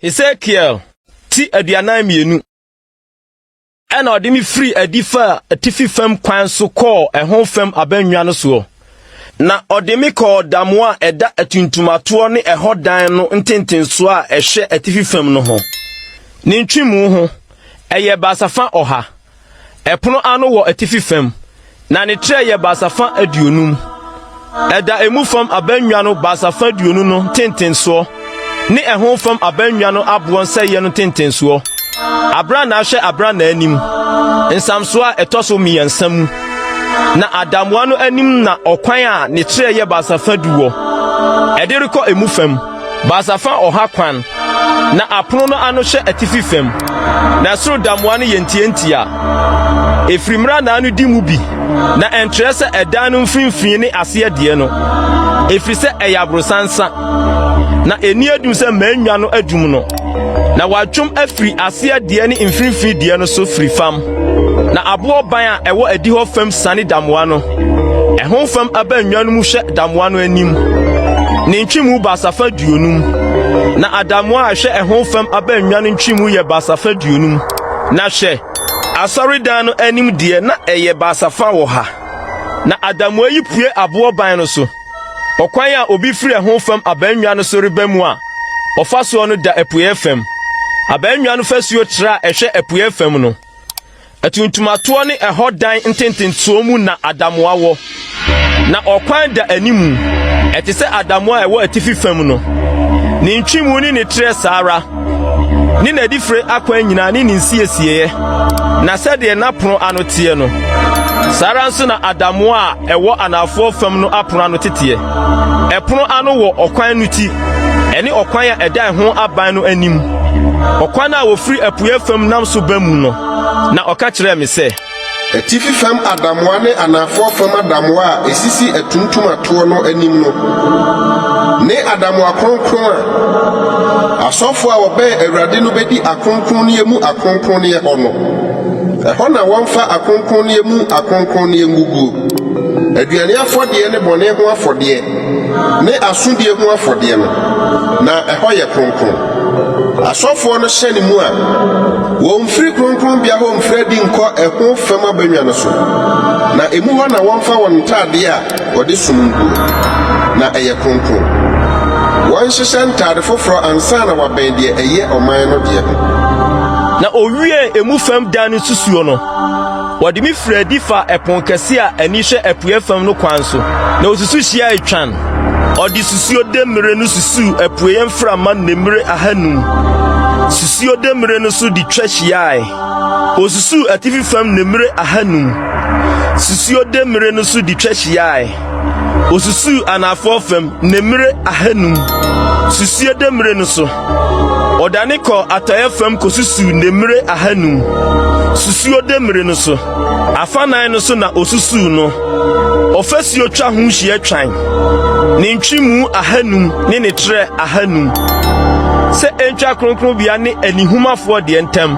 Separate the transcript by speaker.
Speaker 1: Ezekiel ti aduanan mmienu ɛna ɔde me firi adi fa atifi fam kwan so kɔɔ ɛho fam abannwa no soɔ na ɔde me kɔɔ damo a ɛda atuntumatoɔ ne ɛhɔ dan no ntentensoɔ a ɛhwɛ atifi fam no ho ne ntwemu ho ɛyɛ baasafa ɔha Ɛpono ano wɔ atifi fam, na ne trɛ yɛ baasafã aduonum. Ɛda emu fam abannwa no baasafã aduonu no ntentensoɔ ne ɛho fam abannwa no aboɔ nsɛeɛ no ntentensoɔ. Abrannaa hwɛ abrannaa anim, nsamsoɔ a ɛtɔ so mmiɛnsa mu. Na adamoa no anim na ɔkwan a ne trɛ yɛ baasafã du wɔ, ɛde rekɔ emu fam. Baasafã ɔha kwan, na apono no ano hwɛ atifi fam, na soro damoa no yɛ ntiantia. Efiri mmrannaa no di mu bi, na ɛnkyerɛ sɛ ɛdan no mfinimfini ne aseɛ deɛ no, ɛfiri sɛ ɛyɛ aborosansa, na ɛnni adum sɛ mannwa no adum no. na wɔatwam afiri aseɛ deɛ ne mfimfini deɛ no so firi fam, na aboɔ ban a ɛwɔ adihɔ fam siane damoa no. Ɛho fam abannwa no mu hwɛ damoa no anim, ne ntwemu basafa duonum, na adamoa a ɛhwɛ ɛho fam abannwa no ntwemu yɛ basafa duonum. Na hwɛ, asɔredan no anim deɛ na ɛyɛ basafa wɔ ha, na adamoa yi pue aboɔ ban no so. Ɔkwan a obi firi ɛho fam abannwa no so reba mu a ɔfa soɔ no da apueɛ fam. Abannwa no fasuo tra a ɛhwɛ apueɛ fam no, atuntumatoɔ ne ɛhɔ dan ntentensoɔ mu na adamoa wɔ. Na ɔkwan da animu, ɛte sɛ adamoa a ɛwɔ atifi fam no. Ne ntwemu ne ne trɛ saa ara. ne n'adifire akwan nyinaa ne ne nsiesieeɛ, na sɛdeɛ n'apono ano teɛ no, saa ara nso na adamoa a ɛwɔ anaafoɔ fam no apono ano teteɛ. Ɛpono ano wɔ ɔkwan no ti, ɛne ɔkwan a ɛda ɛho aban no anim, ɔkwan a wɔfiri apueɛ fam nam so ba mu no. Na ɔka kyerɛɛ me sɛ. Atifi fam
Speaker 2: adamoa ne anaafoɔ fam adamoa a ɛsisi atuntum atoɔ no anim no ne adamoa kronkron a asɔfoɔ a wɔbɛn Awurade no bɛdi akronkronneɛ mu akronkronneɛ hɔ no. Ɛhɔ na wɔmfa akronkronneɛ mu akronkronneɛ nguguo, aduane afɔdeɛ ne bɔne ho afɔdeɛ, ne asodie ho afɔdeɛ no, na ɛhɔ yɛ kronkron. Asɔfoɔ no hyɛne mu a, wɔmfiri kronkronbea hɔ mfiri adi nkɔ ɛho fam abannwa no so, na emu hɔ na wɔmfa wɔn ntadeɛ a wɔde som nguo, na ɛyɛ kronkron. Wɔnhyehyɛ ntade foforɔ ansa na wɔabɛn deɛ ɛyɛ ɔman no deɛ ho. Na
Speaker 1: ɔwiee emu fam dan no nsusuo no. Wɔde me firi adi fa ɛpon kɛse a ani hwɛ apueɛ fam no kwan so, na wɔsusu hyia etwan. Ɔde susuo demmire no susuu apueɛ mframa nnemmire ahanum. Susuo demmire no so de twa hyiae. Wɔsusuu atifi fam nnemmire ahanum. Susuo demmire no so de twa hyiae. Osusuu anaafoɔ fam nemmire ahanum, susuie demmire no so. Ɔdane kɔɔ atɔeɛ fam kosusuu nemmire ahanum, susuo demmire no so. Afanan no so na osusuu no. Ɔfasuo twa ho hyia twan, ne ntwemu ahanum ne ne trɛ ahanum, sɛ ɛntwa kronkronbea ne anihumafoɔ deɛ ntam.